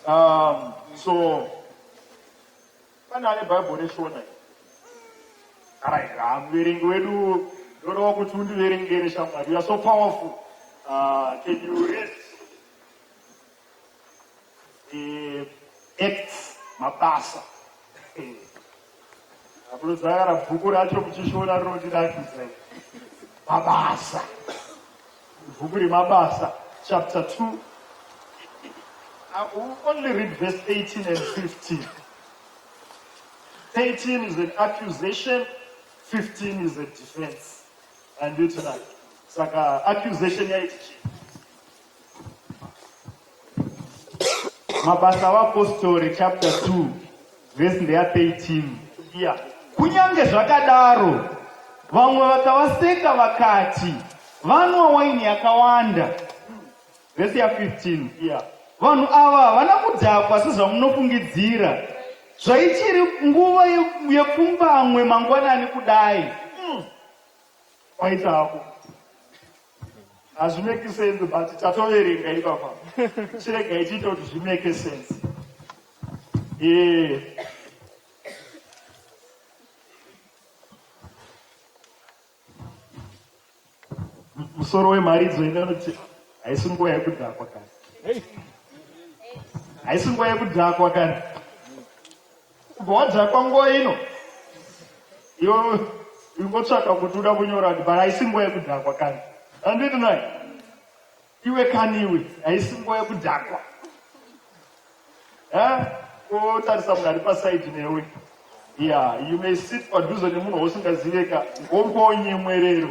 Um, so pane ane bhaibho reshona arairaa muverengi wedu ndodawo kuti undiverengere shamwari youare so powerful uh, can you rest acts mabasa akunozayara bhuku racho muchishona rinondirakidza mabasa bhuku remabasa chapter 2 I will only read verse 18 and 15 13 is an accusation 15 is a defense and you tonight saka accusation yaiti chii mabasa avapostori chapter 2 vhesi ndeya 13 iya kunyange zvakadaro vamwe vakavaseka vakati vanwa waini yakawanda vhesi ya 15 iya vanhu ava havana kudhakwa sezvamunofungidzira zvaichiri nguva yepfumbamwe mangwanani kudai hmm. kwaita ako hazvimeki sense but tatoverenga ipapa chirega ichiita kuti zvimeke sense ee musoro wemharidzo ine unoti haisi nguva yekudhakwa kana haisi nguva yekudhakwa kana Bhodza kwanguva ino yo ingotsvaka kuti uda kunyora but haisi nguva yekudhakwa kani anditi nai iwe kani iwe haisi nguva yekudhakwa eh, otarisa munhu ari pasaidi newe ya you may sit padhuze nemunhu wausingaziveka ngombo nyemwerero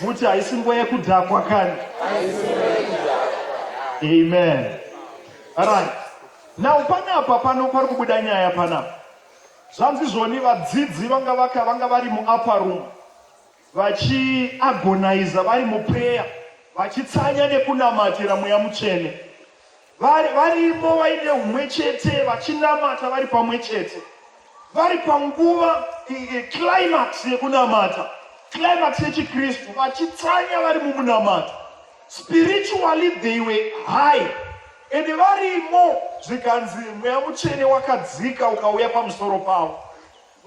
Muti haisi nguva yekudhakwa kani. Amen. Right. Now panapa pano pari kubuda nyaya panapa. Zvanzi zvoni vadzidzi vanga vaka vanga vari muupper room vachiagoniza vari muprayer vachitsanya nekunamatira mweya mutsvene. vari varimo vaine umwe chete vachinamata vari pamwe chete vari panguva climax yekunamata climax yechikristu vachitsanya vari mumunamato spiritually they were high ende varimo zvikanzi mweya mutsvene wakadzika ukauya pamusoro pavo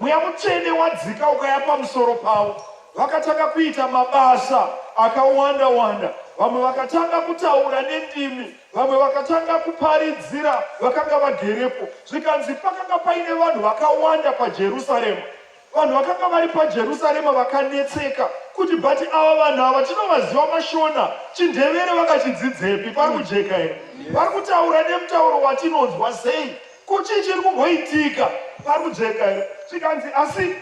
Mweya Mutsvene wadzika ukaya pamusoro pavo, vakatanga kuita mabasa akawanda wanda. Vamwe vakatanga kutaura nendimi, vamwe vakatanga kuparidzira vakanga vagerepo. Zvikanzi pakanga paine vanhu vakawanda paJerusarema. Vanhu vakanga vari paJerusarema vakanetseka kuti but ava vanhu ava tinovaziva mashona chindevere vakachidzidzepi pari kujeka here vari kutaura nemutauro watinonzwa sei Ko chii chiri kumboitika parujeka here? Zvikanzi asi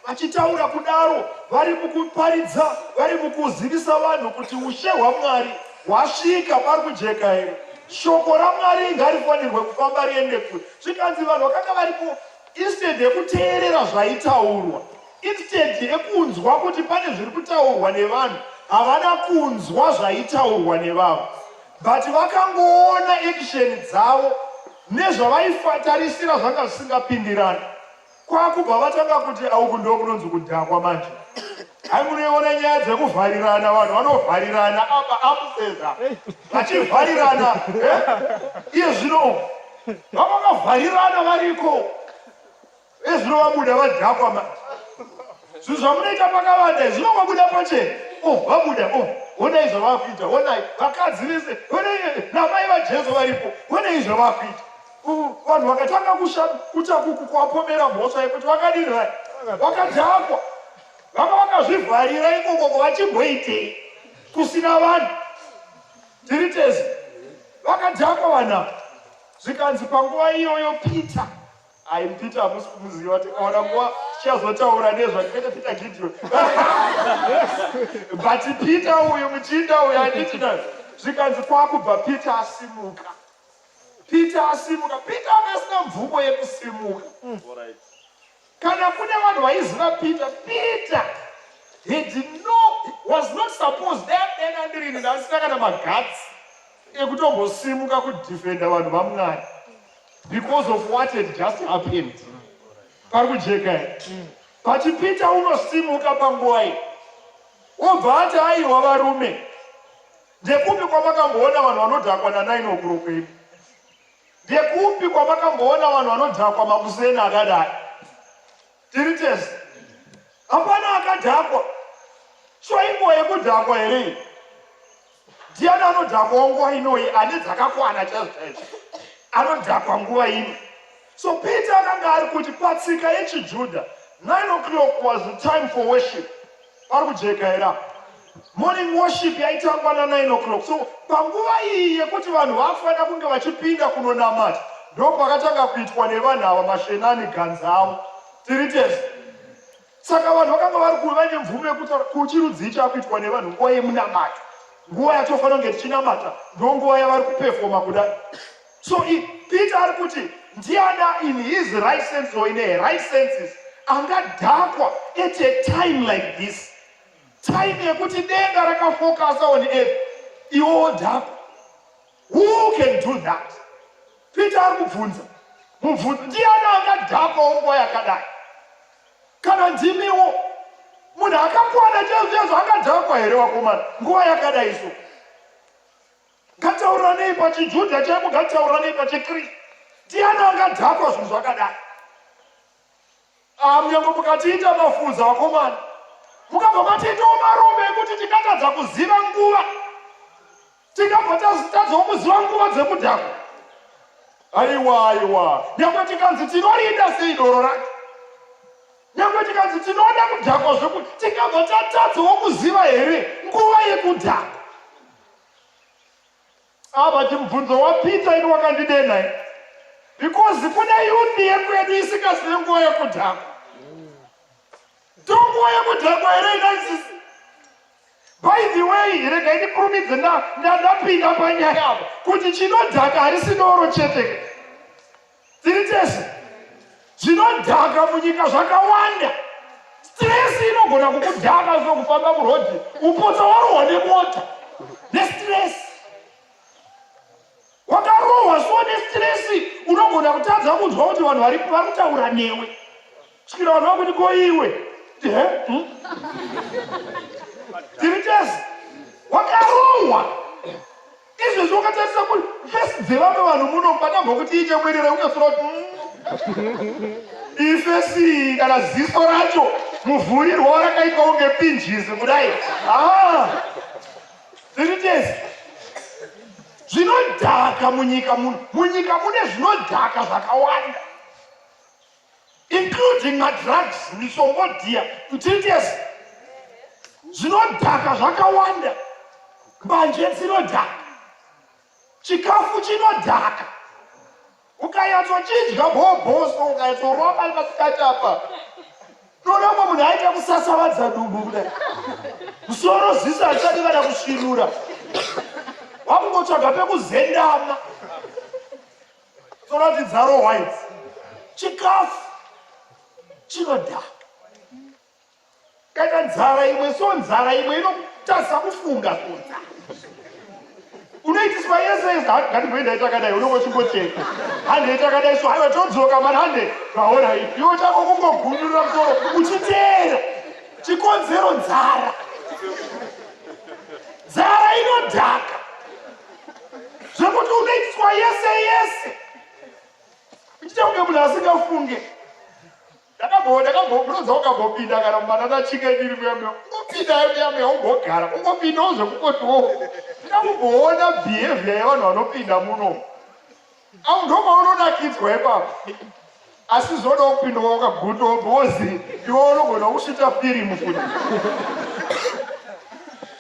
vachitaura kudaro vari mukuparidza vari mukuzivisa vanhu kuti ushe hwamwari hwasvika pari kujeka here shoko ramwari ngarifanirwe kufamba riende kure zvikanzi vanhu vakanga varipo instead yekuteerera zvaitaurwa instead yekunzwa kuti pane zviri kutaurwa nevanhu havana kunzwa zvaitaurwa nevavo but vakangoona action dzavo nezvavaifatarisira zvanga zvisingapindirani kwakubva vatanga kuti auku ndo kunonzi kudhakwa manje hai munoiona nyaya dzekuvharirana vanhu vanovharirana apa amuseza vachivharirana eh? iye zvino vavakavharirana variko Ezuro vabuda vadhakwa ma. Zvinhu zvamunoita pakavanda izvi zvinongobuda pachena. Oh, vabuda oh. Honai zvavakuita, honai vakadzi vese, honai namai vaJesu varipo. Honai zvavakuita. Oh, vanhu vakatanga kusha kuta kukwapomera mhosva yekuti vakadini vai. Vakadhakwa. Vanga vakazvivharira ikoko kwavachimboitei kusina vanhu. Tiri tese. Vakadhakwa vana. Zvikanzi panguva iyoyo Peter Ayi Peter hamusi kumuziva kuti ona nguva tichazotaura nezvake kwete Peter Gideon. But Peter uyu muchinda uyu anditi na zvikanzi kwakubva Peter asimuka. Peter asimuka. Peter akasina mvumo yekusimuka. Mm. Kana kune vanhu vaiziva Peter, Peter he did not was not supposed that then andirini ndasina kana magatsi ekutombosimuka kudefenda vanhu vaMwari. because of what had just happened pari kujeka here pachipita unosimuka panguva iyi obva ati aiwa varume ndekupi kwamakamboona vanhu vanodhakwa nanaini okurokwenu ndekupi kwamakamboona vanhu vanodhakwa makuseni akadai Tiri tese. Hapana akadhakwa. So inguva yekudhakwa here iyi? Ndiani anodhakwawo nguva inoyi ane dzakakwana chaizvo chaizvo. Anodhakwa nguva ino. So Peter akanga ari kuti patsika yechiJuda 9 o'clock was the time for worship. Pari kujeka here apa? Morning worship yaitangwa na 9 o'clock. So panguva iyi yekuti vanhu vafanira kunge vachipinda kunonamata ndopakatanga kuitwa nevanhu ava mashenani ganzi avo. Tiri tese. Saka vanhu vakanga vari kuve vane mvumo yekuti kuchirudzii chakuitwa nevanhu nguva yemunamato. Nguva yatofanira kunge tichinamata ndonguva yavari kupefoma kudai. So if Peter ari kuti ndiana in his right sense or in a right senses angadhakwa at a time like this time yekuti denga rakafokasa on earth iwo wodhakwa who can do that peter ari kubvunza mubvunzo ndiani angadhakwawo nguva yakadai kana ndimiwo munhu akakwana chezvezvo angadhakwa here wakomana nguva yakadai so Ngatauranei pachiJudha chaipo, ngatauranei pachiKristu. Ndiani angadhakwa zvinhu zvakadai? Ah, Munyango mukatiita mafuza vakomana, mukabva matiitawo marume ekuti tikatadza kuziva nguva, tikabva tazitadzawo kuziva nguva dzemudhako. Aiwa, aiwa, nyangwe tikanzi tinorida sei doro racho, nyangwe tikanzi tinoda kudhakwa zvekuti tikabva tatadzawo kuziva here nguva yekudhakwa. Apa chimubvunzo wapita ini wakandidenha ini. Because kune yundi yekwedu isingazive nguva yekudhakwa. Ndonguva yekudhakwa here inaisisi? By the way, rega ini kurumidze ndapinda panyaya apa kuti chinodhaka harisi doro chete. tiri tese zvinodhaka munyika zvakawanda stress inogona kukudhaka zvo kufamba murodhi upotsa warohwa nemota nestress wakarohwa so nestress unogona kutadza kunzwa kuti vanhu vari kutaura newe Chikira vanhu vakuti ko iwe hmm? tiri tese wakarohwa izvezvi wakatarisa kuti fesi dzevamwe vanhu muno padambo kuti iite bwerera unyasura kuti hmm? ifesi kana ziso racho muvhurirwa warakaitwa unge pinjizi kudai ah! tiri tese zvinodhaka munyika muno munyika mune zvinodhaka zvakawanda including madrugs misongo dhiya kutites zvinodhaka zvakawanda mbanje dzinodhaka chikafu chinodhaka ukayatsochidya bhoboso ukayatsoromba pasikati apa toda umwe munhu aita kusasavadza dumbu kudai musoro ziso hatichadi kana kusvirura wakungotsvaga pekuzendama dzoratidzaro white chikafu chinodhaka kana nzara imwe so nzara imwe inotasa kufunga kunza unoitiswa yese yese handigoindaitakadai unongochimbocheka handeitakadai so haiwa todzoka mani hande vaona ipi iwo chako kungogunyurira musoro uchiteera chikonzero nzara nzara inodhaka zvekuti unoitwa yese yese ichita kunge munhu asingafunge ndakambobvunza ukambopinda kana mumanana chike ndiri muyamya ungopinda yamya ungogara ungopindawo zvekukotiwo ndakambomboona behavior yevanhu vanopinda muno Au ndo maunonakidzwa ipapo. Asi zvoda kupinda wakaguta wozi iwe unogona kusvita firimu kuti.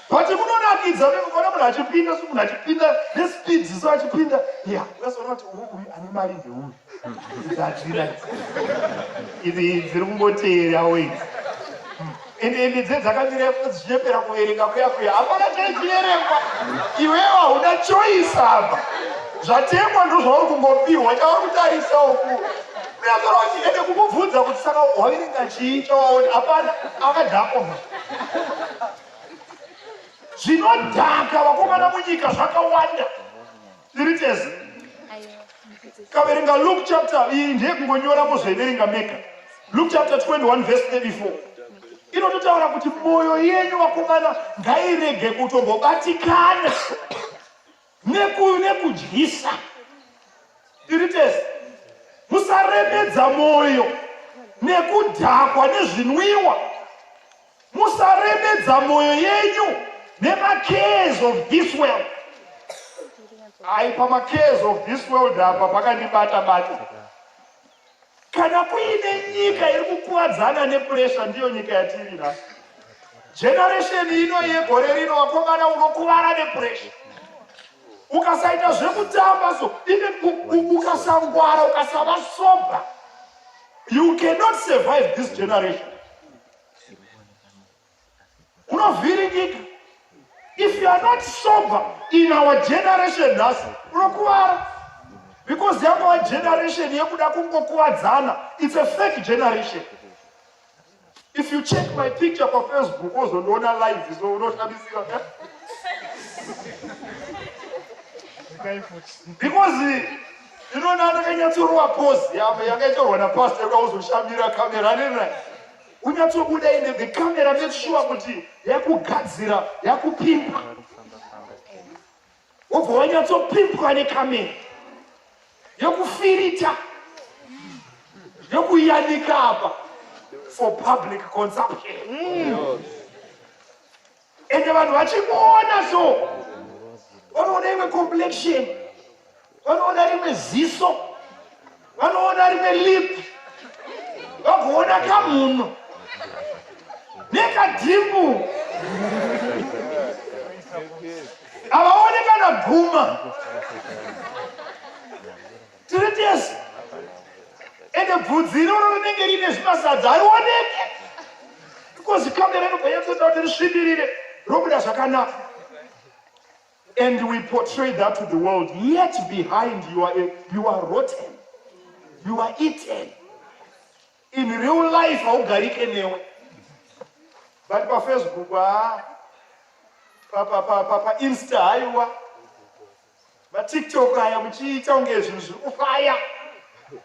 But kunonakidza vekuona munhu achipinda so munhu achipinda nespeed so achipinda ya ukazoona kuti uyu uyu ane mari dzeuyu dzadzira idzi dziri kungoteera wei ende ende dze dzakatirefu dzichepera kuverenga kuya kuya hapana chaichiverengwa iwewe hauna choice apa zvatengwa ndozvauri kungopihwa chauri kutarisa uku uyazora kuti ende kumubvunza kuti saka waverenga chii chawaoni hapana akadhakoma zvinodhaka vakomana munyika zvakawanda Tiri tese. Kaverenga Luke chapter iyi ndiye kungonyora mozoiverenga mega. Luke chapter 21 verse 34. Inototaura kuti moyo yenyu vakomana ngairege kutombobatikana nekuyu nekudyisa. Tiri tese. Musaremedza moyo nekudhakwa nezvinwiwa. musaremedza moyo yenyu nemacares of this world ai pamacares of this world apa pakandibata bata kana kuine nyika iri kukuvadzana nepuresha ndiyo nyika yatiri nhasi generesheni ino yegore rino wakomana unokuvara nepuresha ukasaita zvekutamba so even ukasangwara ukasava sober you cannot survive this generation unovhiringika if you are not sober in our generation nhasi unokuvara because yangova generation yekuda kungokuvadzana its a fake generation if you check my picture pafacebook ozondiona live so unoshamisika eh? because Ino nana kanyatsorowa pose yavo yakaitorwa na pastor yoda kuzoshamira camera nina. Unyatsobuda ine the camera make sure kuti yakugadzira yakupimpa. Wobva wanyatsopimpwa ne camera. Yokufirita. Yokuyanika apa for public consumption. Mm. ende vanhu vachimuona so vanoona imwe complexion vanoona rimwe ziso vanoona rimwe lip vagoona kamunhu nekadhimbu havaone kana guma Tiri tese. Ende bvudzi iroro rinenge rine zvimasadza harioneke. Because kamera inobva yatsoita kuti risvibirire robuda zvakanaka. And we portray that to the world. Yet behind you are, a, you are rotten. You are eaten. In real life haugarike newe. But pa Facebook, ah, pa, pa, pa, pa, pa Insta, haiwa. matiktok aya muchiita unge zvinhu zviri kufaya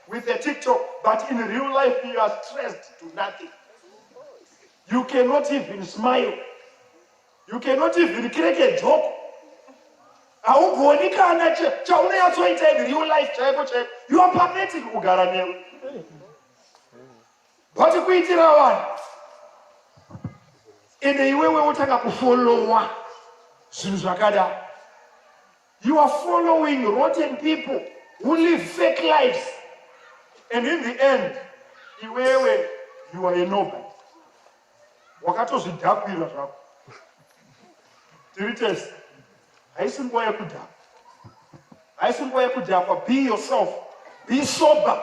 with the tiktok but in real life you are stressed to nothing you cannot even smile you cannot even crack a joke haugoni kana chauneyatsoita in real life chaiko chaiko you are pathetic kugara newe But kuitira vanhu ende iwewe wotanga kufollowa zvinhu zvakadaro you are following rotten people who live fake lives and in the end iwewe you are a nobody wakatozvidhakwira zvako tiri tese haisi nguva yekudhakwa haisi nguva yekudhakwa be yourself be sober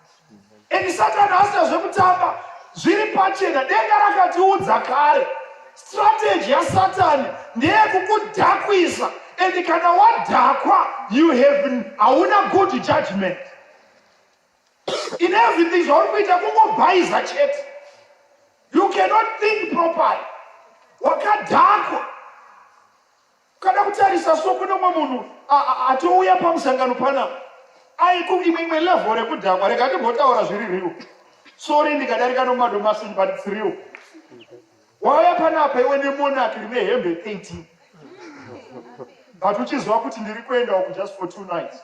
and satani asina zvekutamba zviri pachena denga rakatiudza kare strategy yasatani ndeyekukudhakwisa and kana wadhakwa you have hauna good judgment in everything zvauri kuita kungobhaiza chete you cannot think properly wakadhakwa Kana kutarisa so kune umwe munhu atouya pamusangano pana aiku imwe imwe level rekudhakwa rega ndimbotaura zviri riwo sori ndikadarika nomadomasi but it's real wauya panapa iwe nemonaki rine hembe 18 but uchiziva kuti ndiri kuendawo kujust for two nights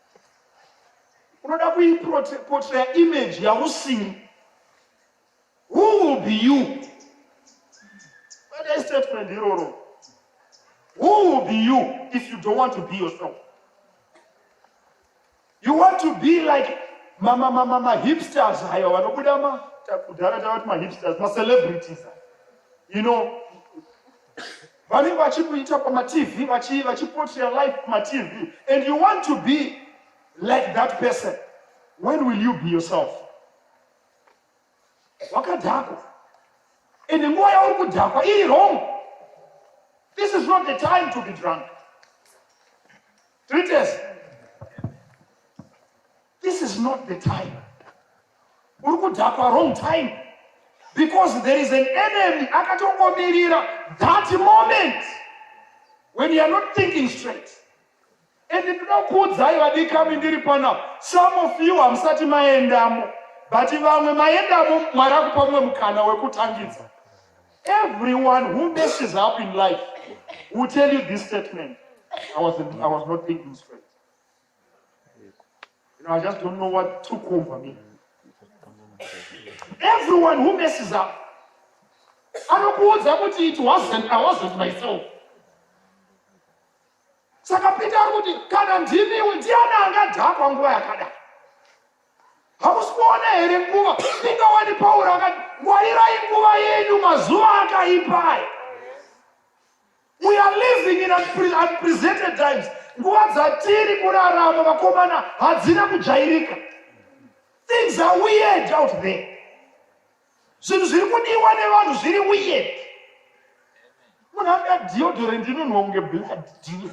unoda kuiportreya image yausiri who will be you kwete istatement iroro who will be you if you don't want to be yourself you want to be like mamamamamahipsters hayo vanobuda ma kudhara tavati mahipsters macelebrities you know vanenge vachikuita pamatv vachipotera life pamatv and you want to be like that person when will you be yourself wakadhakwa and nguva yauri kudhakwa iri wrong this is not the time to be drunk tritese This is not the time. Uri kudhakwa wrong time because there is an enemy akatongomirira that moment when you are not thinking straight. And ndinokuudzai vadikami ndiri panapa, some of you hamusati maendamo but vamwe maendamo mwari akupa mumwe mukana wekutangidza. Everyone who messes up in life will tell you this statement. I was, I was not thinking straight. You know, I just don't know what took over me. Everyone who messes up, anokuudza kuti it wasn't, I wasn't myself. Saka Peter ari kuti kana ndimiwe ndiani angadhakwa nguva yakadai? Hakusi kuona here nguva? Inga wani Pauro akati, ngwarirai nguva yenyu mazuva akaipa aya. We are living in unprecedented times. Nguva dzatiri kurarama vakomana hadzina kujairika. Things are weird out there. Zvinhu zviri kudiwa nevanhu zviri weird. Munhu anga deodorant inonhuwa kunge blood deal.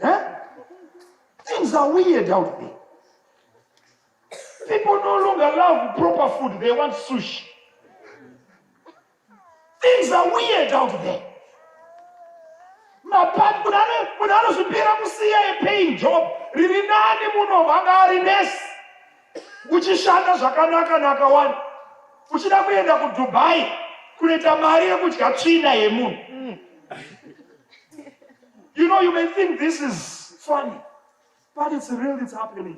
Huh? Things are weird out there. People no longer love proper food, they want sushi. Things are weird out there. Mapati munhu anozvipira kusiya epain job riri nani muno vanga ari nesi uchishanda zvakanaka nakawani uchida kuenda kudubai kunoita mari yekudya tsvina yemunhu mm. you know you may think this is funny but it's real it's happening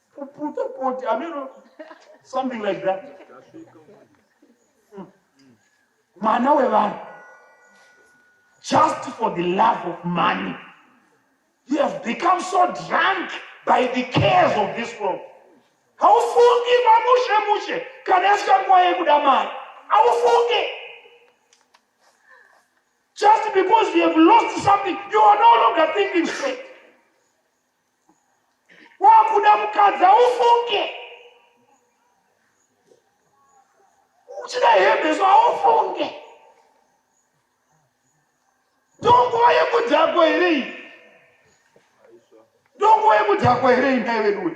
Kuputa poti ameno something like that. Mwana wevanhu just for the love of money. He has become so drunk by the cares of this world. Haufungi mamushe mushe kana yasvika nguva yekuda mari. Haufungi. Just because we have lost something, you are no longer thinking straight. wakuda mukadzi aufunge uchida hembe so aufunge ndonguva yekudhakwa here iyi ndonguva yekudhakwa here iyi ndai veduwe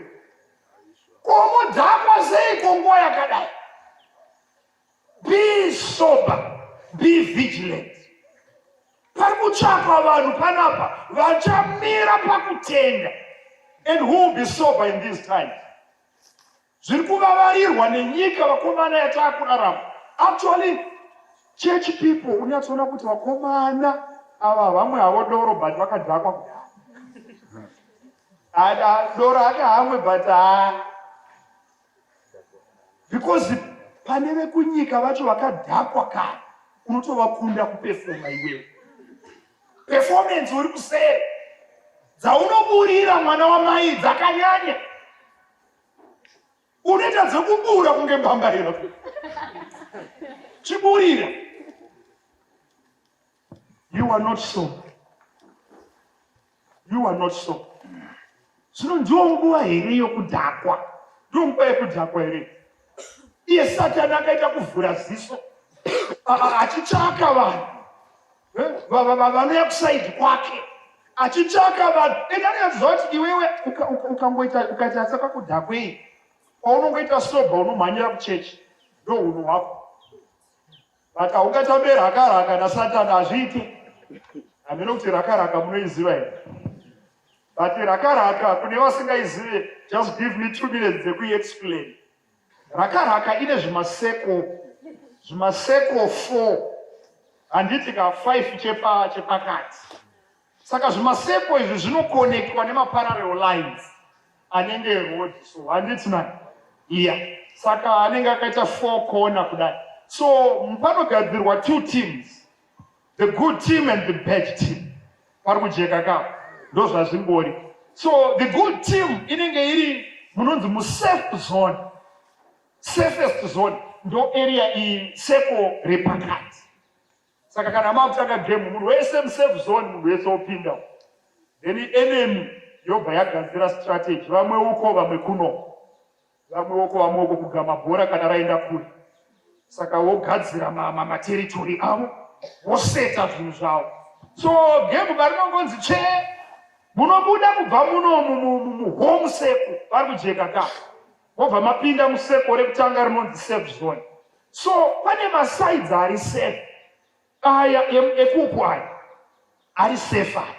komudhakwa sei konguva yakadai Be sober, be vigilant. Pari kutsvakwa vanhu panapa vachamira pakutenda and who will be sober in these times. Zviri kuvavarirwa nenyika vakomana yataakurarama. Actually, church people unyatsoona kuti vakomana ava vamwe havo doro but vakadhakwa kudai dora ake hamwe but haa because pane vekunyika vacho vakadhakwa kare unotovakunda kupefoma iwewe performance uri kusere dzaunoburira mwana wamai dzakanyanya unoita dzekubura kunge mbambaira chiburira You are not so. You are not so. Zvino ndiwo nguva here yokudhakwa? Ndiwo nguva yokudhakwa here? Iye Satani akaita kuvhura ziso achitsvaka vanhu eh, vanouya kusaidi kwake achitsvaka vanhu ende anoyaziva kuti iwewe ukangoita ukaita saka kudhakwei kwaunongoita soba unomhanyira kuchechi ndo hunhu hwako but aungatambe raka raka nasatan hazviiti hameno kuti raka raka munoiziva here but raka raka kune vasingaizive just give me two minutes dzekuiexplain raka raka ine zvimaseko zvimaseko four handiti ka five chepakati chepa Saka zvimasepo izvi zvinokonektwa nemaparallel lines anenge road so handiti na iya saka anenge akaita four corner kudai so panogadzirwa two teams the good team and the bad team pari kujeka ka ndozvazvingori so the good team inenge iri munonzi musafe zone safest zone ndo area iyi seko repakati Saka kana makutanga game munhu wese musafe zone munhu wese opinda then enemy yobva yagadzira strategy vamwe uko vamwe kuno vamwe uko vamwe uko kugama bhora kana raenda kure saka wogadzira mamateritori avo woseta zvinhu zvavo so game varinongonzi chee munobuda kubva muno muhome seku vari kujeka ka mobva mapinda museko rekutanga rinonzi safe zone so pane masides ari safe aya ekuku aya ari safe aya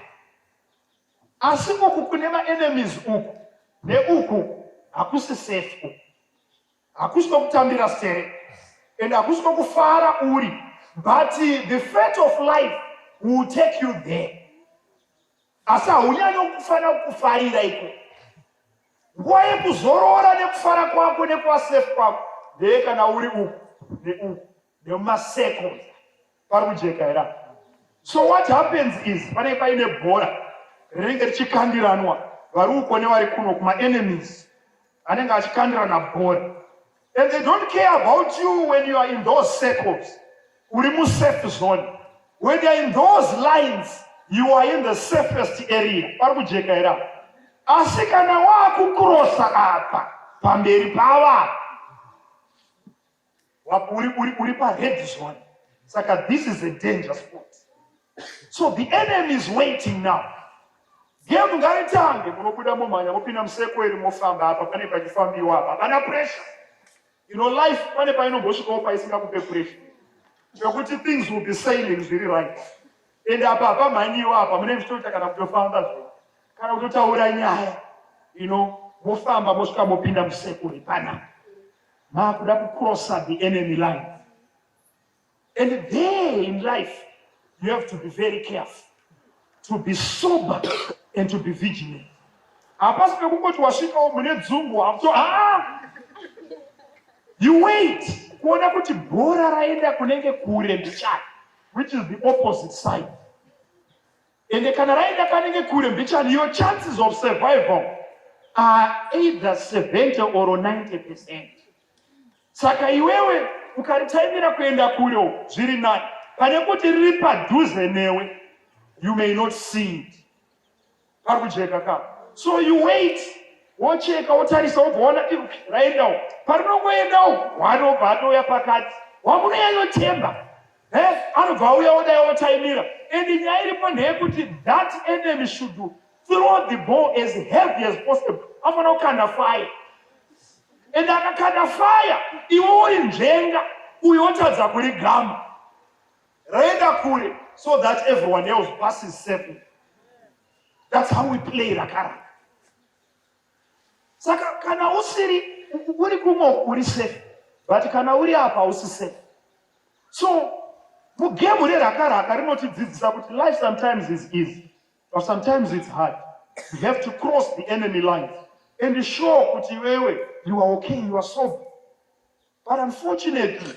asi uku kune maenemies uku neuku hakusi safe uku hakusi kwekutambira sere and hakusi kwekufara uri but the fate of life will take you there asi haunyanye kufana kufarira iko nguva yekuzorora nekufara kwako nekuvasafe kwako ndeye kana uri uku neuku nemumasecond pari kujeka hera so what happens is panenge paine bhora rinenge richikandiranwa vari uko nevari kuno kumaenemies anenge achikandirana bhora And they don't care about you when you are in those circles. Uri mu safe zone. When you are in those lines, you are in the safest area. Pari kujeka era. Asi kana wakukurosa apa pamberi pava uri uri uri pa red zone. Saka this is a danger spot. So the enemy is waiting now. Game ngaitange munobuda momhanya mopinda musekweri mofamba apa pane pachifambiwa apa pana pressure. You know life pane painombosvikawo paisingakupe pressure. Zvekuti things will be sailing zviri right. And apa hapamhanyiwa apa mune mchitoita kana kutofamba zve. Kana kutotaura nyaya. You know mofamba mosvika mopinda musekweri pana. Makuda kucrossa the enemy line. And there in life, you have to be very careful, to be sober and to be vigilant. Hapasi pekungoti wasvikawo mune dzungu wakuto ah! You wait kuona kuti bhora raenda kunenge kure mbichani, which is the opposite side. And kana raenda kanenge kure mbichani, your chances of survival are either 70 or 90 percent. Saka iwewe ukaritaimira kuenda kure uko zviri nani pane kuti riri padhuze newe you may not see it. Pari kujeka ka. So you wait wocheka wotarisa wobva waona raenda uko. Parinongoenda uko wanobva atouya pakati wamunonyanyotemba eh, anobva auya odai otaimira and nyaya iripo ndeyekuti that enemy should throw the ball as heavy as possible afanira kukanda fire and akakanda fire iwe uri nzvenga uyo wotadza kuri gama raenda kure so that everyone else passes safely that's how we play rakaraka saka kana usiri uri kumwe uri safe but kana uri apa usi safe so mugemu rerakaraka rinotidzidzisa kuti life sometimes is easy But sometimes it's hard. You have to cross the enemy lines and show kuti iwewe you are okay, you are sober. But unfortunately,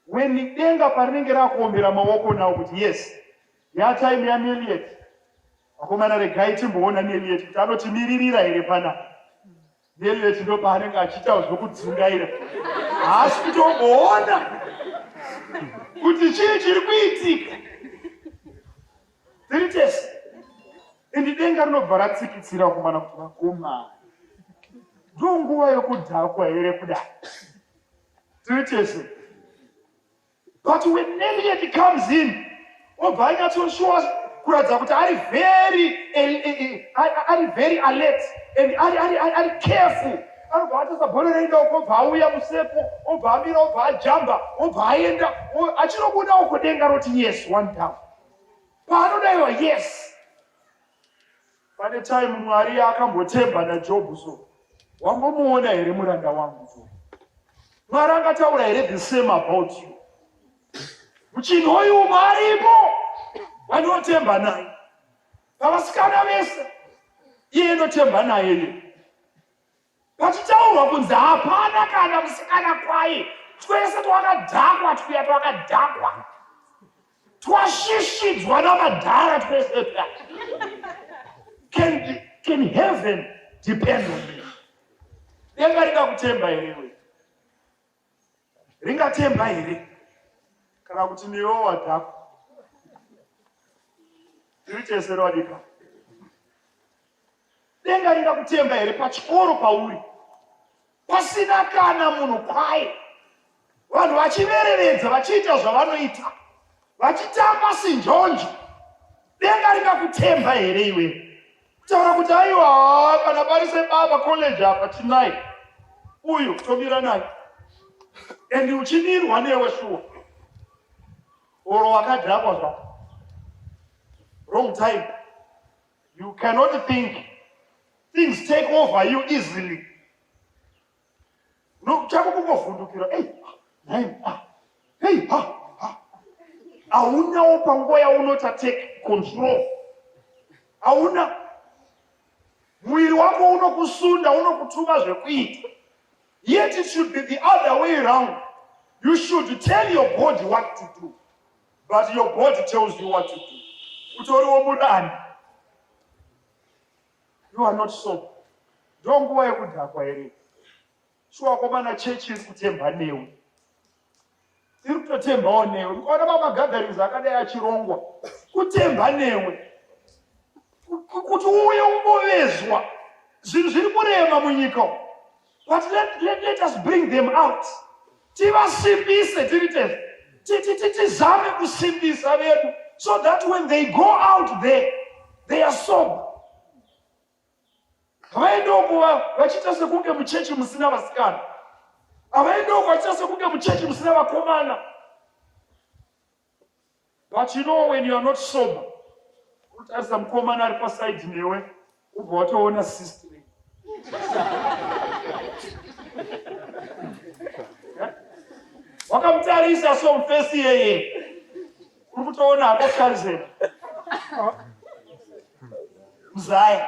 when denga parinenge rakuombera maoko now kuti yes, ya time ya Neliet. Akomana regai timboona Neliet kuti anotimiririra here panapa. then leti ndo paanenge achiita zvokudzungaira haasi kutomboona kuti chii chiri kuitika tiri tese endi denga rinobva ratsikitsira kumana kuti vakomana ndonguva yokudhakwa here kudai tiri tese but when Elliot comes in obva anyatsoshuwa kuratidza kuti ari very ari very alert and ari ari ari careful anobva atasa bhora reida uko obva auya musepo obva amira obva ajamba obva aenda achinobuda uko denga roti yes one down paanodaiwa yes Pane time Mwari yaakambotemba naJobhu so wambomuona here muranda wangu so Mwari angataura here the same about you muchinhu uyu umwe aripo vanotemba naye pavasikana vese iye inotemba naye iye Pachitaurwa kunzi hapana kana musikana kwaye, twese twakadhakwa twuya twakadhakwa twashishidzwa namadhara twese twa can, can heaven depend on me denga ringakutemba here iwe ringatemba here kana kuti newo wadhakwa tiri tese wadika denga ringakutemba here pachikoro pauri pasina kana munhu kwaye vanhu vachiverevedza vachiita zvavanoita vachitamba sinjonjo denga ringakutemba here iwe Taura kuti aiwa haa kana pari sebaba college apa tinai uyu tomira naye and uchimirwa newe shuwa oro wakadhakwa zvako wrong time you cannot think things take over you easily No, chako kungovhundukira. Hey, hey, ah, hey, ha, ha. Haunawo panguva yaunota take control. Hauna mwiri wako unokusunda unokutuma zvekuita. Yet it should be the other way around. You should tell your body what to do. But your body tells you what to do. Utoriwo mudani. You are not sober. Ndo nguva yekudhakwa here? Shuwa komana chechi iri kutemba newe. Iri kutotembawo newe. Ukaona mamagatherings akadai achirongwa, kutemba newe. Kuti uuye umbovezwa. Zvinhu zviri kurema munyika umu. but let, let, let us bring them out tivasimbise tiri tese tizame kusimbisa vedu so that when they go out there they are sober havaendoko vachiita sekunge muchechi musina vasikana havaendoko vachiita sekunge muchechi musina vakomana but you know when you are not sober unotarisa mukomana ari pasaidi newe ubva watoona sister wakamutarisa so mufesi yeye uri kutoona hako karizera mzaya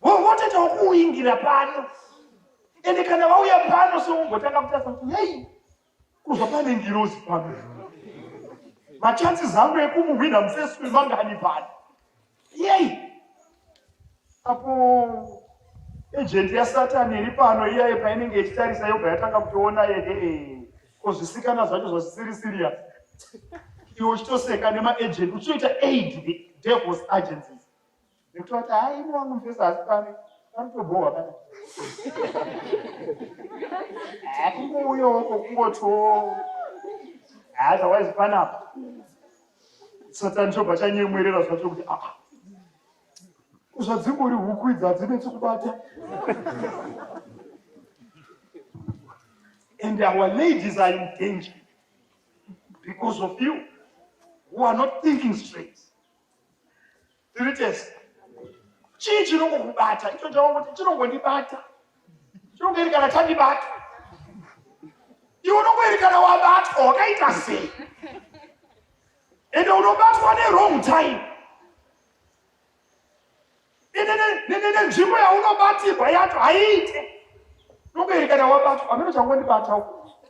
votoitawo kuuingira pano ende kana vauya pano sokumbotanga kutasa kuti hei kuva pane ngirozi pano machansi zangu ekumuhwina mufeswe mangani pano yei apo ejenti yasatani iri pano iyaye painenge ichitarisa yobva yatanga kutoona yehee ko zvisikana zvacho zvasisiri serious iwe uchitoseka nemaagent uchitoita aid the devils agencies Ndikutoti haa ini wangu mufesa asi pane panotobhohwa pana. Haa kungouya wako kungotiwo. Haa otherwise panapa. Satani chobva chanyemwerera zvacho kuti aa. Ah, ah. Zvadzingori huku idzi hadzine chekubata. And our ladies are in danger because of you who are not thinking straight. Tiri tese. Chii chinongokubata? Icho chaongo kuti chinongondibata. Chinongoerekana chandibata. Iwe unongoerekana wabatwa wakaita sei? Ende unobatwa ne wrong time. Ende nenzvimbo yaunobatirwa yacho haiite. Unongoerekana wabatwa. Ameno changondibata uko.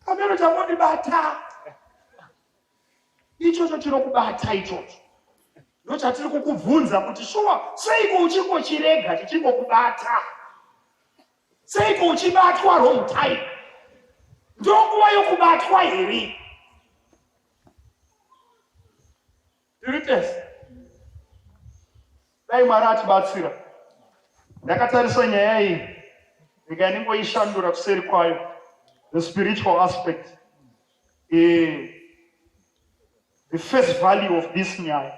Ameno changondibata. ichocho chinokubata ichocho ndochatiri kukubvunza kuti shuwa seiko uchingochirega chichingokubata seiko uchibatwa wrong time ndonguva yokubatwa here tiritese dai mwari atibatsira ndakatarisa nyaya iyi ndikaningoishandura kuseri kwayo the spiritual aspect the, the first value of this nyaya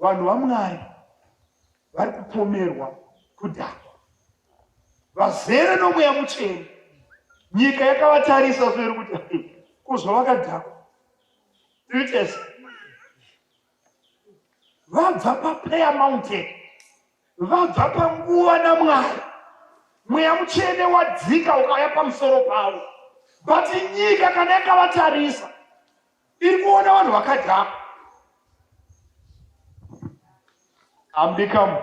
vanhu vamwari vari kupomerwa kudhakwa vazere nomweya mucheni nyika yakavatarisa soiri kuti kuzvavakadhakwa tiri tese vabva paprayer mountain vabva panguva namwari mweya mutsvene wadzika ukauya pamusoro pavo but nyika kana yakavatarisa iri kuona vanhu vakadhaka ambikamu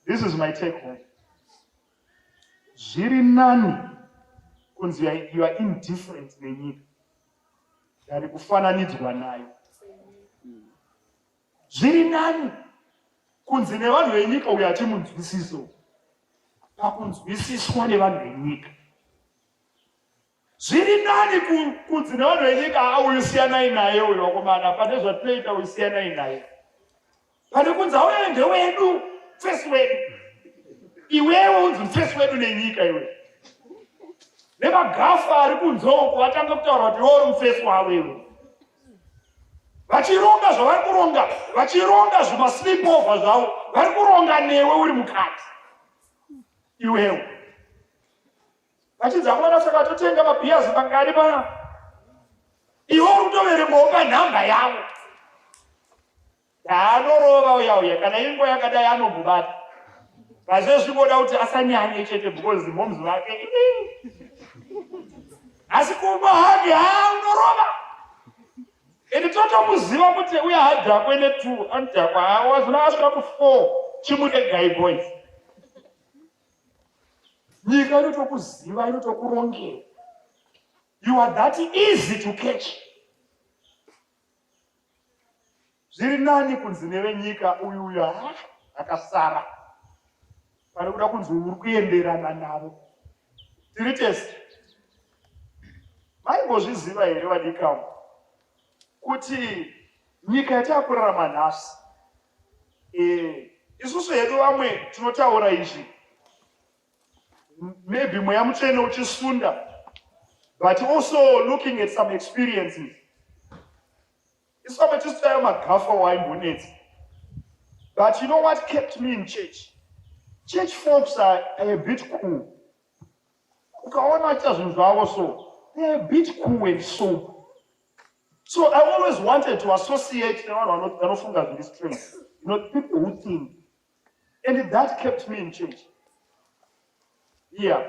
this is my take home zviri nani kunzi you are indifferent nenyika tari kufananidzwa nayo zviri nani kunzi nevanhu venyika uyo hatimunzwisiso pakunzwisiswa nevanhu venyika zviri nani kunzi nevanhu venyika auyu siyanai naye uyo wakomana pane zvatinoita uyu siyanai naye pane kunzi auyayo ndewedu fesi wedu iwewe unzi mfesi wedu nenyika iwe nemagafu ari kunzoko vatanga kutaura kuti iweuri mfesi wavo iwe vachironga zvavari kuronga vachironga zvimaslipova zvavo vari kuronga newe uri mukati iwewe Vachinzi hamwana saka totenga mabhiyazi pakari paya. Iwe uri kutoverengawo panhamba yavo. Daanorova uya uya kana inguva yakadai anomubata. Vazvezvi voda kuti asanyanye chete because moms vake. Asi kumba hake haa unorova. Ende totomuziva kuti uya hadhakwe netu anodhakwa haa wazvona asvika ku four chimude guy boys. nyika inotokuziva inotokurongera you are that easy to catch zviri nani kunzi nevenyika uyu uyu ah, akasara pane kuda kunzi uri kuenderana navo tiri tese maimbozviziva here vadikamu kuti nyika yatakurarama nhasi Eh, isusu hedu vamwe tinotaura izvi maybe mweya mutsvene uchisunda but also looking at some experiences isu vamwe tisu tayo magafa waimbonetsa but you know what kept me in church church folks are, are a bit cool ukaona vachiita zvinhu zvavo so they are a bit cool and sober So I always wanted to associate nevanhu vanofunga zviri straight, you know, people who think. And that kept me in church. Yeah.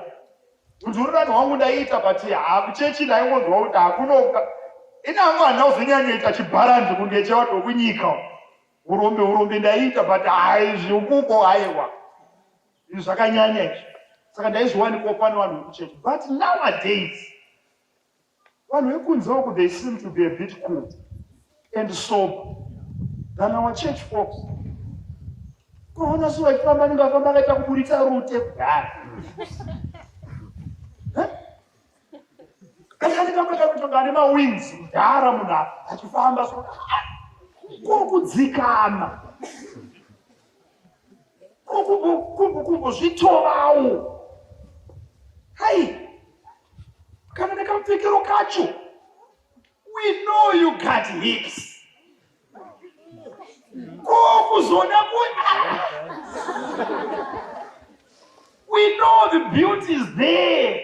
Kuti uri vanhu wangu ndaiita but hakuchechi ndaingonzwa kuti hakunoka. Ini hangu handina kuzonyanyoita chibharanzi kunge chevanhu vekunyika. Urombe urombe ndaiita but hayi zvikuko haiwa. Izvi zvakanyanya izvi. Saka ndaizviwanikwa pane vanhu vekuchechi. But nowadays Vanhu vekunze uku they seem to be a bit cool and sober than our church folks. Unoona so vachifamba anenge afamba akaita kuburitsa rute kudhara. Kanyani kamwe kakutonga ane mawings mudhara munhu achifamba so ko kudzikama. kumbukumbu zvitovawo hai kana nekamupfekero kacho we know you got hips ko kuzoda ku we know the beauty is there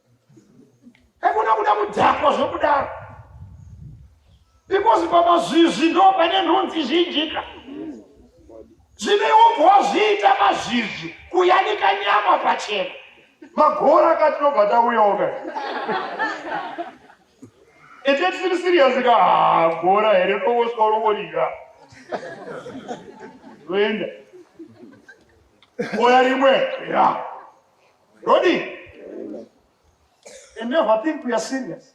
Hakuna kuda kudhakwa zvokudaro. Because pamazvizvi ndo pane nhunzi zhinjika. Zvine umbo wazviita mazvizvi kuyanika nyama pachena. Magora katinobva tauyawo ka. Ete tisiri serious ka ah, gora here ndongosvika unongorira. Toenda. Oya rimwe. Yeah. Rodi. And never think we are serious.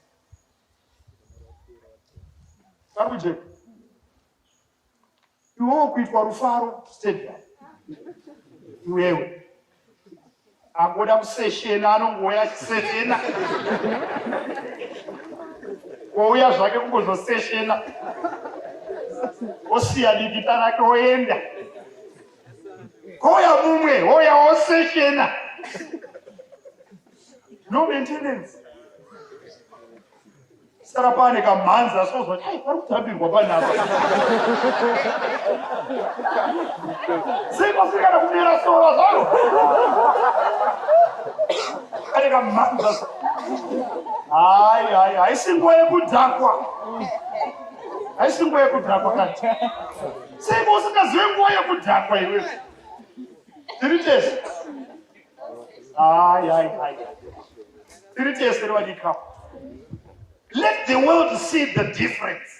Paruje. Iwo kuitwa rufaro stadium. Iwewe. Agoda kuseshena anongoya kuseshena. Wouya zvake kungozoseshena. Osiya dikita rake oenda. hoya mumwe hoya osechena no maintenance sara pane kamhanza sozwa ai pari kutambirwa panapa sei pasiri kana kumera sora zvaro pane kamhanza hai hai haisi nguva yekudhakwa haisi nguva yekudhakwa kati Sei mausingazive nguva yekudhakwa iwe? Tiri tese. Hayi, hayi, hayi. Tiri tese revadikapa. Let the world see the difference.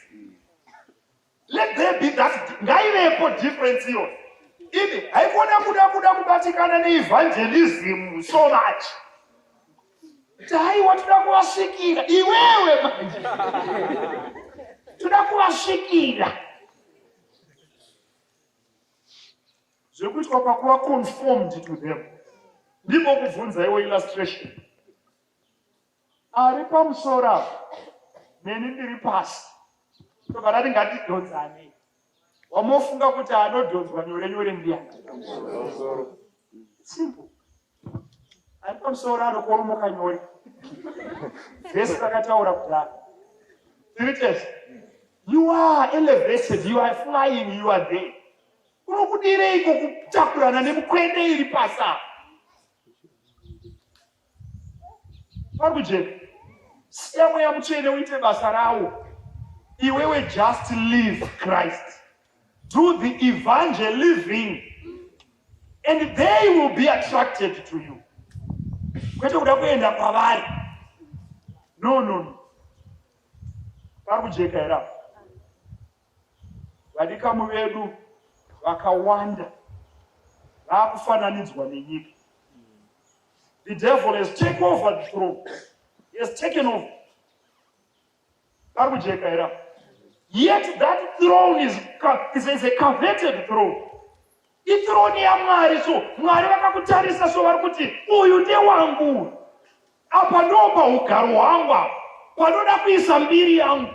Let there be that ngaivepo difference iyo. Ini haikona kuda kuda kubatikana neevangelism so much. dai watoda kuvasvikira iwewe toda kuvasvikira zvekuitwa pakuva conformed to them ndiko kubvunza iwo illustration ari pamusoro apo neni ndiri pasi tobva rati ngatidhodzanei wamofunga kuti anodhonzwa nyore nyore ndiya simple ari pamusoro anokoromoka nyore vese rakataura kudaro tiri tese you are elevated you are flying you are there unokudireiko kutakurana nemukwende iri pasa pari kujeka siya mweya mutsvene uite basa rawo iwewe just live christ do the evangeliving and they will be attracted to you kwete kuda kuenda kwavari no no no pari kujeka here apo vadikamu vedu vakawanda vakufananidzwa nenyika The devil has taken over the throne. He has taken over. Akujekaira. Yet that throne is, is, is a coveted throne. Ithrone yaMwari so Mwari vakakutarisa so vari kuti uyu ndewangu. Apa ndopa ugaro hwangu apa. Panoda kuisa mbiri yangu.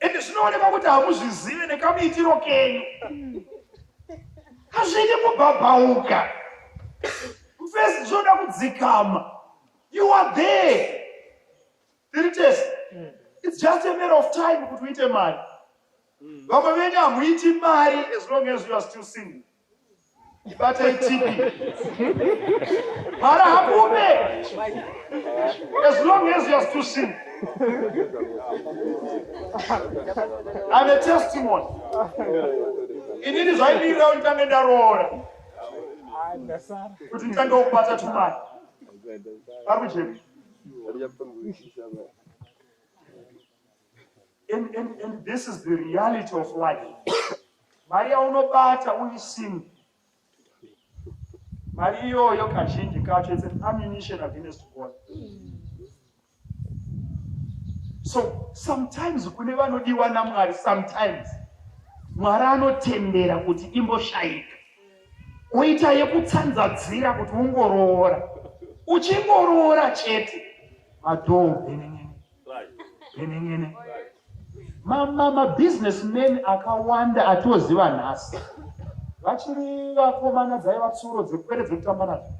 ende zvinoonekwa kuti hamuzvizive nekamuitiro kenyu hazvidi kubhabhauka first zvoda kudzikama you are there tiri tese its just a matter of time kuti uite mari vamwe venyu hamuiti mari as long as you are still single ibata itipi mara hakume as long as youare still sin I'm a testimony inini zvaimirira kuti tange ndaroora kuti nditange kubata tumari ari kujepi and, and, and this is the reality of life mari yaunobata uri single mari iyoyo kazhinji kacho it's an ammunition against god so sometimes kune vanodiwa namwari sometimes mwari anotendera kuti imboshayika oita yekutsanzadzira kuti ungoroora uchingoroora chete madhoo benenene Nyenenene. Ma, ma, ma business men akawanda atioziva nhasi vachiri vakomana dzaiva tsuro dzekupere dzekutamba nazvo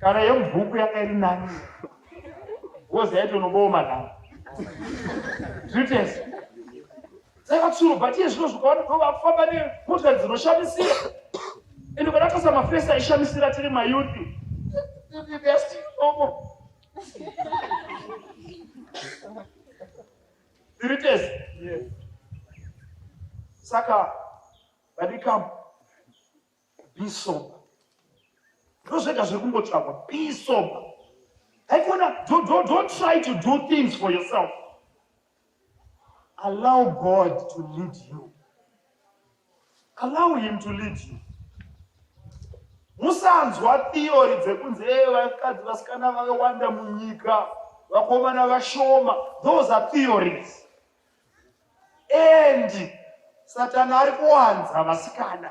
kana yemubhuku yanga iri nani gozi yaitonobooma navo zvitese dzaiva tsuro but iye zvino zvikaona ko vakufamba nemota dzinoshamisira ende kana tasa mafesi aishamisira tiri mayuthi they're still normal tiri tese saka vadikam bisoba ndozvega zviri kungotsvagwa bisoba haikona don't try to do things for yourself Allow God to lead you. Allow him to lead you. Musanzwa theory dzekunzi ee eh, vakadzi vasikana vakawanda munyika vakomana vashoma. Those are theories. And Satana ari kuwanza vasikana.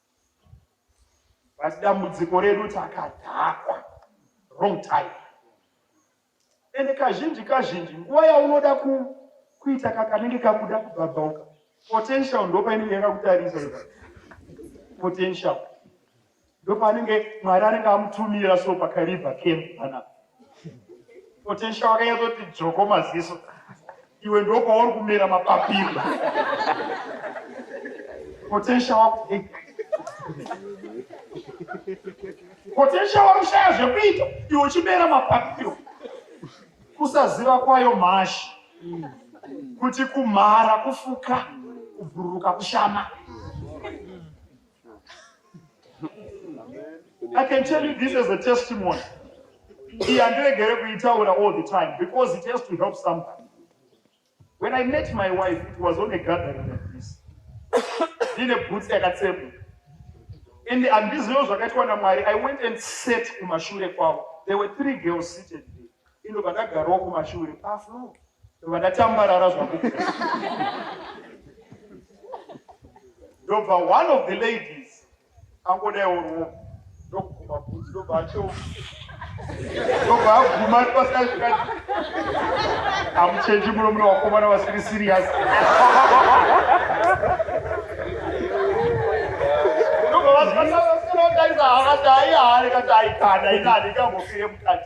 but dambudziko redu takadhakwa wrong time ende kazhinji kazhinji nguva yaunoda ku, kuita kakanenge kakuda kubhabhauka potential ndopainenge yakakutarisa potential ndopaanenge mwari anenge amutumira so pakaribha camp panapa Potential wakanyatoti dzvoko maziso. Iwe ndokwauri kumera mapapiro. Potential wako. Potential wako shaya zvekuita. Iwe uchimera mapapiro. Kusaziva kwayo mhashi. Kuti kumhara, kufuka, kubhururuka, kushama. I can tell you this as a testimony. Iyi handiregere kuitaura all the time because it has to help somebody. When I met my wife, it was on a gathering like this. Ndine boots yakatsemwa. And handizivo zvakaitwa naMwari. I went and sat kumashure kwavo. There were three girls seated there. Indo pandagarawo kumashure pafloor. Ah, vakatambarara zvako ndobva one of the ladies angodaiwo ruoko ndokuguma bhunzi ndobva acheuka ndobva aguma ari pasina zvikati amuchenji muno mune vakomana vasiri siriyasi ndobva vasinaotarisa haka taiyahare kataikana inani ikambofire mukati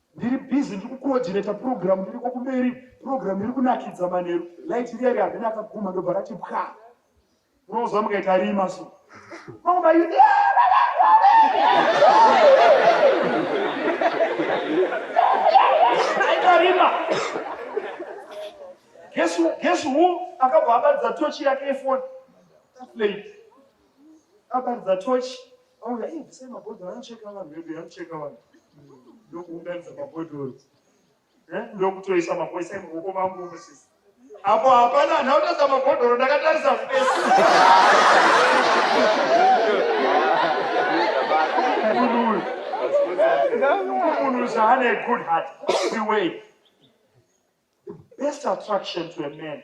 ndiri busy ndiri kucoordinator program ndiriko kumberi program iri kunakidza manheru light riya ri harina akaguma ndobva rati pwa unouza mukaita rima so mama you rima guess who guess who akabva abatidza tochi yake efoni Akaridza tochi auya iye bvisai mabhodhoro anocheka vanhu vedu anocheka vanhu ndokuunganidza mabhodhoro eh, ndokutoisa mapoisa emuoko mangu musisi apo hapana ndautatsa mabhodhoro ndakatarisa fesi munhu zvaane a good heart the way the best attraction to a man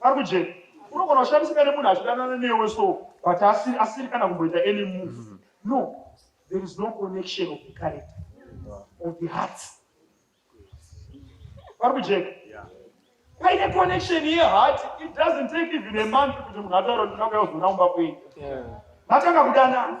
Arikujeni. Unogona kushandisika nemunhu achidanana newe so but asiri asiri kana kumboita any move. Mm -hmm. No. There is no connection of the character or the heart. Arikujeni. Yeah. Paine connection ye heart it doesn't take even a month kuti munhu ataura kuti ndakauya kuzoona kumba kwenyu. Yeah. Matanga kudanana.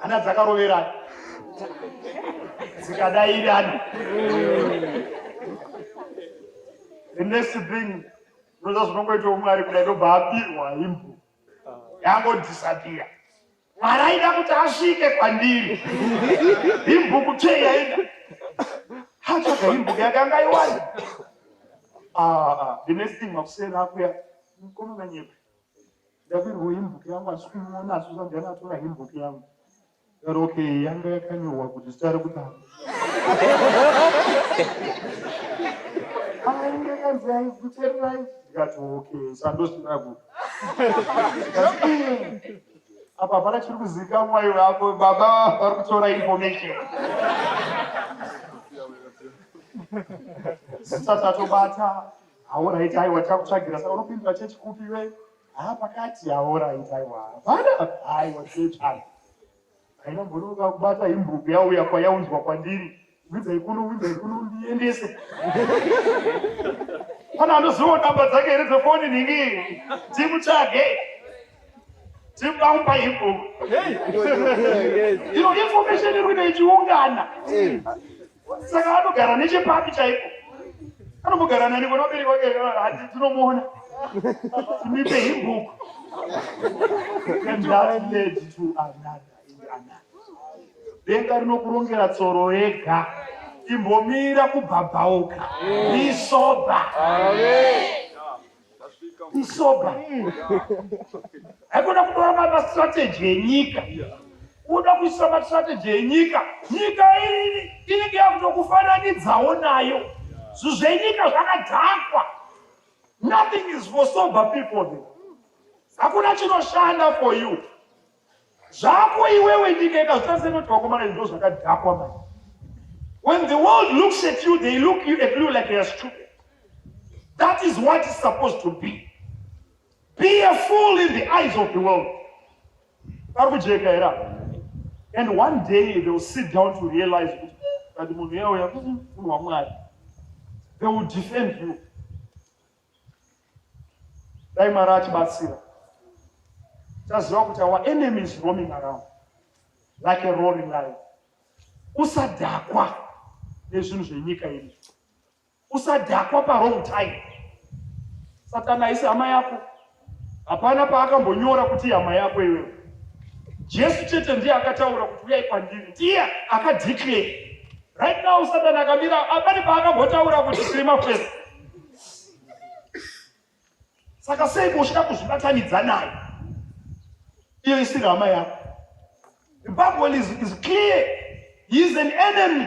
hana dzakaroverana dzikadairana the next thing ndoza zvinongoita umwe ari kudai ndobva abirwa imbo yangodisapira mwari aida kuti asvike kwandiri imbuku chei yaida atsvaga imbuku yakanga iwani ah, ah, ah. the next thing makuseni akuya mkomana nyepe ndabirwo hembook yangu asi kumuona asi usabva natora hembook yangu ero okay yanga yakanyorwa kuti zita rekutanga ainge kanzi aikutererai ndikati okay sandosiraku apa hapana chiri kuzivikamwa iwe apo baba vari kutora information zita tatobata Ahoraiti aiwa tikakutsvagira saka unopindura chechi kupi iwe? Haa pakati ahoraiti aiwa hapana aiwa chechi ai. Haina mbonoka kubata imbuku yauya kwayaunzwa kwandiri. Widzai kuno widzai kuno ndiendese. Pana anoziva namba dzake here dzefoni nhingi timutsvage tibaumba imbuku. Ino information iri kuita ichiungana. saka anogara nechepapi chaipo anombogara nani kona ubereki wake hati tinomuona timipe hibhuku and that led to another and another denga rinokurongera tsoro yega imbomira kubhabhauka isoba Amen. isoba haikona kutora mastrategy enyika kuda kuisa mastrategy enyika nyika iri inenge yakutokufananidzawo nayo zvinhu zvenyika zvakadhakwa nothing is for sober people hakuna chinoshanda for you zvako iwewe nyika ikazvitasenoti vakomana izvo zvakadhakwa mai when the world looks at you they look you at you like you're stupid that is what is supposed to be be a fool in the eyes of the world vari kujeka here apa and one day they will sit down to realize kuti kati munhu yauya munhu wamwari they will defend you dai mwari atibatsira taziva kuti our enemy is roaming around like a roaring lion usadhakwa nezvinhu zvenyika iri usadhakwa parong time satana aisi hama yako Hapana paakambonyora kuti ihama yako iwewe. Jesu chete ndiye akataura kuti uyai kwandiri, ndiye akadeclare. Right now Satani akamira, hapana paakambotaura kuti tiri mafesi. Saka sei uchida kuzvibatanidza naye? Iyo isiri hama yako. The Bible is, is clear. He is an enemy.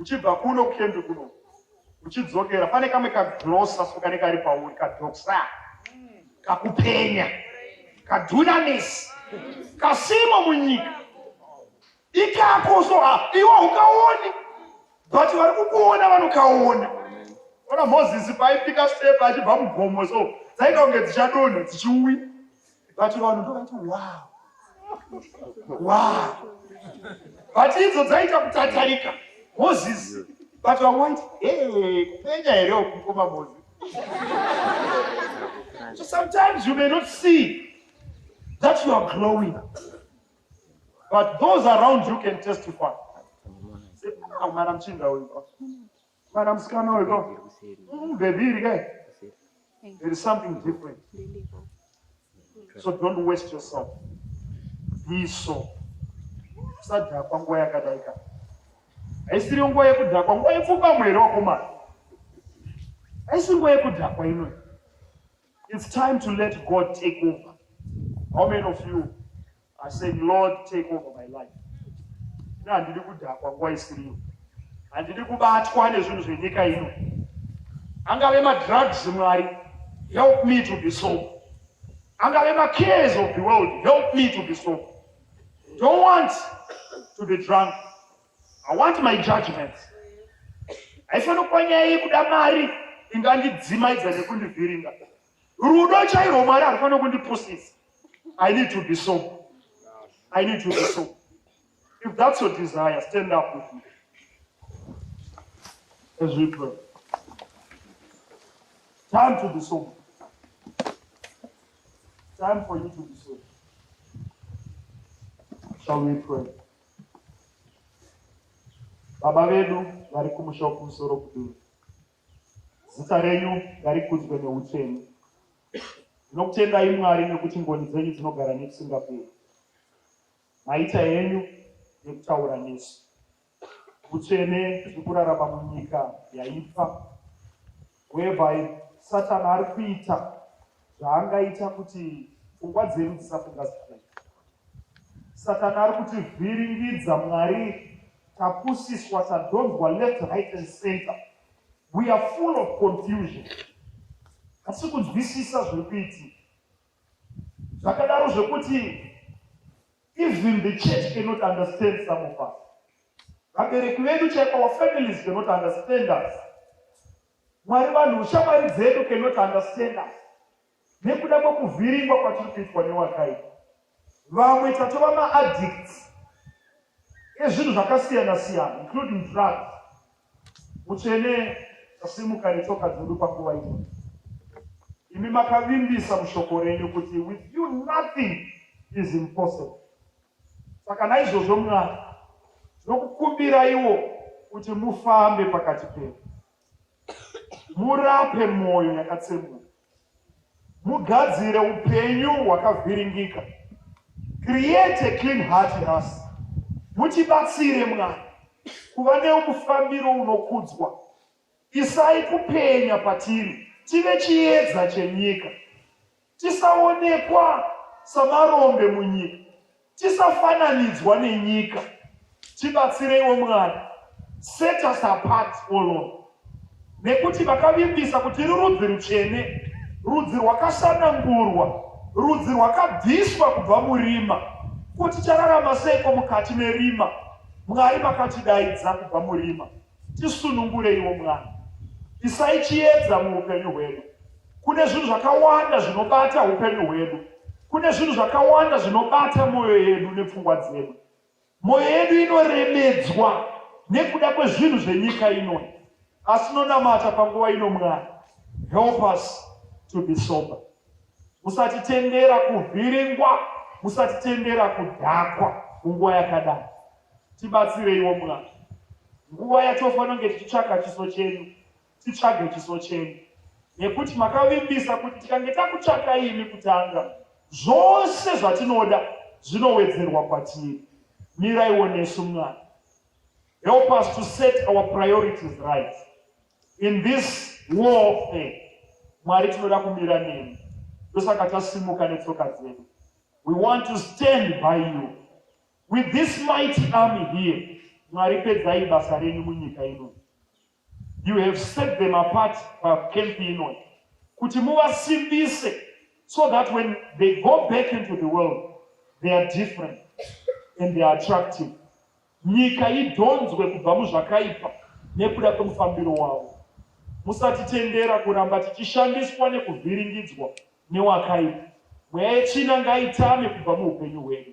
uchibva kuno kukembi kuno uchidzokera pane kamwe kaglosa so kane kari pauri kadoksa kakupenya kadunamis kasimo munyika ikako so ah, iwo ukaoni but vari kukuona vanokaona ona mozisi paipika step achibva mugomo so dzaita kunge dzichadonha dzichiuya but vanhu ndovati wow wow but idzo dzaita kutatarika moses but vamwe vaiti hey kupenya here ukukoma moses so sometimes you may not see that you are glowing but those around you can testify ah, mwana mchinda uyu Mwana musikana uyu ko. Mm, baby iri kai. There is something different. So don't waste yourself. Be so. Usadhakwa nguva yakadai ka. Haisiri nguva yekudhakwa, nguva yepfuka mwere wakomana. Haisi nguva yekudhakwa inoyi. It's time to let God take over. How many of you I said, Lord, take over my life. Ina handidi kudhakwa nguva isiriyo. Handidi kubatwa nezvinhu zvenyika ino. Angave madrugs Mwari, help me to be sober. Angave macares of the world, help me to be sober. Don't want to be drunk. I want my judgment. Haifanira kuva nyaya yekuda mari ingandidzimaidza nekundivhiringa. Rudo chairo Mwari harufana kundipusisa. I need to be so. I need to be so. If that's your desire, stand up with me. As we pray. Time to be so. Time for you to be so. Shall we pray? Baba vedu vari kumusha kumusoro kuduwa. Zita renyu ngarikudzwe neutsvene. Ndinokutendai Mwari nekuti ngoni dzenyu dzinogara nekusingaperi. Maita henyu nekutaura nesu. Utsvene tiri kurarama munyika yaipa whereby Satan ari kuita zvaangaita kuti pfungwa dzedu dzisafunga zvakanaka. Satani ari kutivhiringidza Mwari tapusiswa tadhonzwa left right and center we are full of confusion asi kunzwisisa zviri kuitika zvakadaro zvekuti even the church cannot understand some of us vabereki vedu chaipo our families cannot understand us Mwari vanhu shamwari dzedu cannot understand us nekuda kwekuvhiringwa kwatiri kuitwa newakaipa. Vamwe tatova maaddicts ezvinhu zvakasiyana siyana including drugs. Mutsvene tasimuka netsoka dzedu panguva ino. Imi makavimbisa mushoko renyu kuti with you nothing is impossible. Saka naizvozvo, Mwari, ndinokukumbiraiwo kuti mufambe pakati pedu, murape mwoyo yakatsemuka, mugadzire upenyu hwakavhiringika, create a clean heart in us. Mutibatsire Mwari kuva neumufambiro unokudzwa. Isai kupenya patiri, tive chiedza chenyika. Tisaonekwa samarombe munyika. Tisafananidzwa nenyika. Tibatsireiwo Mwari. Set us apart, O Lord. Nekuti vakavimbisa kuti tiri rudzi rutsvene, rudzi rwakasanangurwa, rudzi rwakabviswa kubva murima. Ko tichararama seiko mukati merima? Mwari vakatidaidza kubva murima. Tisunungureiwo mwana, isai chiedza muupenyu hwedu. Kune zvinhu zvakawanda zvinobata upenyu hwedu, kune zvinhu zvakawanda zvinobata mwoyo yedu nepfungwa dzedu. Mwoyo yedu inoremedzwa nekuda kwezvinhu zvenyika ino, asi nonamata panguva ino, mwana, help us to be sober. Musatitendera kuvhiringwa, musatitendera kudhakwa munguva yakadai. Tibatsireiwo Mwari. Nguva yatofanonge tichitsvaga chiso chenyu, titsvage chiso chenyu. Nekuti makavimbisa kuti tikange takutsvaka imi kutanga, zvose zvatinoda zvinowedzerwa kwatiri. Miraiwo nesu Mwari. Help us to set our priorities right. In this warfare, Mwari tinoda kumira nemi. Ndosaka tasimuka netsoka dzedu. We want to stand by you. With this mighty army here, Mwari pedzai basa renyu munyika ino. You have set them apart pacamp ino kuti muvasimbise so that when they go back into the world they are different and they are attractive. Nyika idhonzwe kubva muzvakaipa nekuda kwemufambiro wavo. Musatitendera kuramba tichishandiswa nekuvhiringidzwa newakaipa. Mweya yechina ngaitame kubva muupenyu hwedu.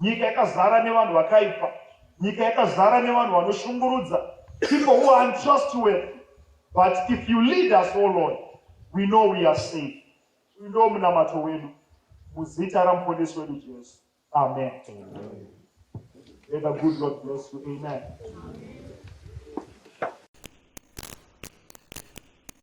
Nyika yakazara nevanhu vakaipa. Nyika yakazara nevanhu vanoshungurudza. People who are untrustworthy. But if you lead us, O oh Lord, we know we are safe. Uyu ndiwo munamato wedu muzita ramuponesi wedu Jesu. Amen. Amen. May the good Lord bless you. Amen. Amen.